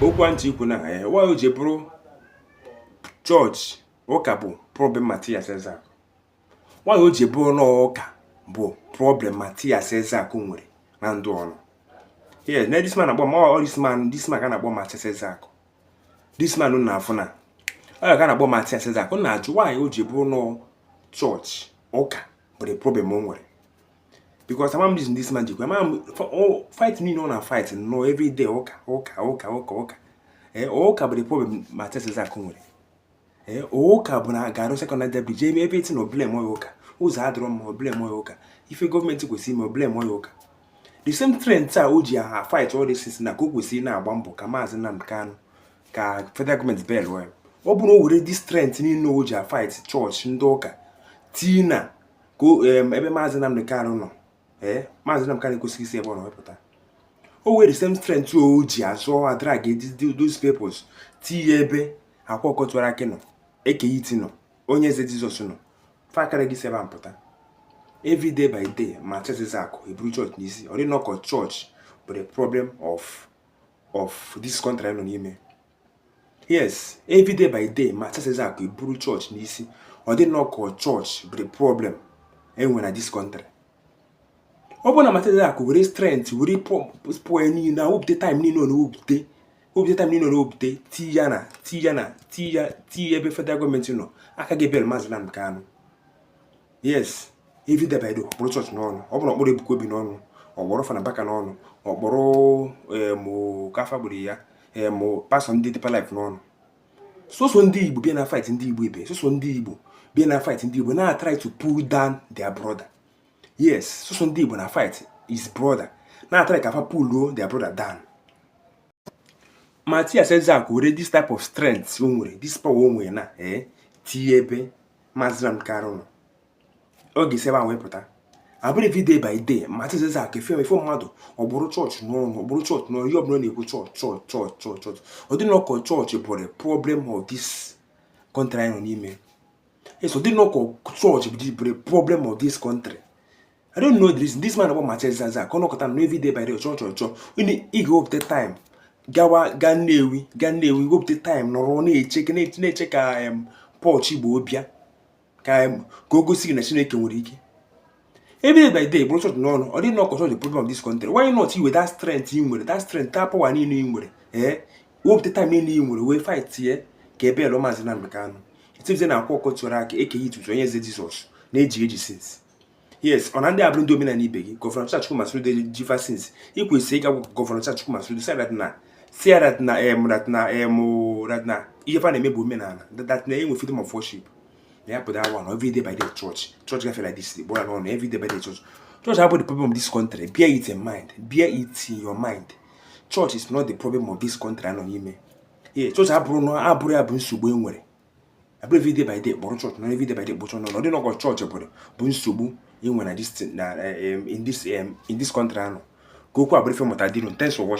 okwu m chọ ikwu na ya why o ji bụrụ chọọchị ụka bụ problem Matias Ezeaku why o ji bụrụ na ụka bụ problem Matias Ezeaku nwere na ndụ ọ nọ yes na this man akpọ ma ọ this man this man ka na-akpọ Matias Ezeaku this man na afụ na ọ ga na-akpọ Matias Ezeaku na-ajụ why o ji bụrụ na chọọchị ụka bụ the problem o nwere because ama m reason this man jikwa ama m fight niile ọ na fight no every day ụka ụka ụka ụka ụka ee eh, ụka bụ the problem Matias Ezeaku nwere ee eh, ụka bụ na garụ Second Niger Bridge everything o blameuo ya ụka ụzọ adịrọ mma o blameuo ya ụka ife gọọmenti kwesịrị ime o blameuo ya ụka the same strength a o ji a fight all this things na ka o kwesịrị na-agba mbọ ka maazị Nnamdi Kanu ka federal gọọmenti bail ọ bụrụ o were this strength niile o ji a fight chọọchị ndị ụka tii na ka ebe maazị Nnamdi Kanu nọ ee maazị Nnamdi Kanu ekwesịghị isi ebe ọ nọ wepụta o were same strength o ji azụ a drag those peoples tinye ebe Akwa Ọkụkọ Tiwara Akị nọ Eke Hit nọ Onye Eze Jizọs nọ fa akara esi ebe pụta every day by day Matias Ezeaku eburu chọọchị n'isi ọ dị nnọọ ka chọọchị bụ the problem of of this country a nọ n'ime yes every day by day Matias Ezeaku eburu chọọchị n'isi ọ dị nnọọ ka chọọchị bụ the problem e nwe na this country ọ bụrụ na Matias Ezeaku were strength were power niile na wepụta time niile ọ na-ewepụta wepụta time niile ọ na-ewepụta tii ya na tii ya na tii ya tii ebe federal gọọmenti nọ aka ga-ebail maazị Nnamdi Kanu yes every day by day ọ kpụrụ chọọchị n'ọnụ ọ bụrụ ọ kpụrụ Ebuka Obi n'ọnụ ọ kpụrụ Fada Mbaka n'ọnụ ọ kpụrụ mụ kafa gburu ya mụ pastọ ndị Deeper Life n'ọnụ soso ndị igbo bịa na fight ndị igbo ibe soso ndị igbo bịa na fight ndị igbo na try to pull down their brother yes soso ndị igbo na fight his brother na try ka fa pull their brother down Matias Ezeaku were this type of strength o nwere this power o nwere na ee eh, tinye ebe Maazị Nnamdi Kanu nọ ọ ga-esi ebe ahụ wepụta abụrụ every day by day Matias Ezeaku efe efe mmadụ ọ kpụrụ chọọchị n'ọnụ ọ kpụrụ chọọchị n'ọnụ ihe ọbụla na-ekwu chọọchị chọọchị chọọchị chọọchị chọọchị ọ dị nnọọ ka chọọchị bụrụ problem of this country anyị nọ n'ime yes ọ dị nnọọ ka chọọchị bụrụ problem of this country I don't know this this man bụ Matias Ezeaku ọ nọkọta na every day by day chọọchị chọọchị chọọchị onye ị ga-ewepụta time gawa gaa Nnewi gaa Nnewi wepụta time nọrọ na-eche na-eche ka pọch Igbo bịa ka ka o gosi gị na Chineke nwere ike every day by day kpụrụ chọọchị n'ọnụ ọ dị gị nnọọ ka chọọchị problem of this country why not i were that strength ị nwere that strength that power niile ị nwere ee eh? wepụta time niile ị nwere wee fight ye ka e bailụọ maazị Nnamdi Kanu etibize na Akwa Ọkụkọ Tiwara Akị Eke Hit Onye Eze Jizọs na-eji eji since yes ọ na ndị a abụrọ ndị omenala ibe gị gọvanọ Charles Chukwuma Soludo ji fa since i kwesịrị ịga gwa gọvanọ Charles Chukwuma Soludo sị dat na si dat na em dat na em dat na ihe fa na-eme bụ omenala dat na e nwe freedom of worship na ya pụta awa na every day by day church church gafere like this kpọrọ n'ọnụ every day by day church church abụrọ the problem of this country bear it in mind bear it in your mind church is not the problem of this country anọ n'ime ee church abụrọ na abụrọ ya bụ nsogbu e nwere abụrọ everyday by day kpọrọ chọọchị na everyday by day kpọ chọọchị n'ọnụ dị nnọọ ka ọ chọọchị bụrụ bụ nsogbu i nwe na in this country anụ ka okwu abụrụ ife mụta dịru thanks for watching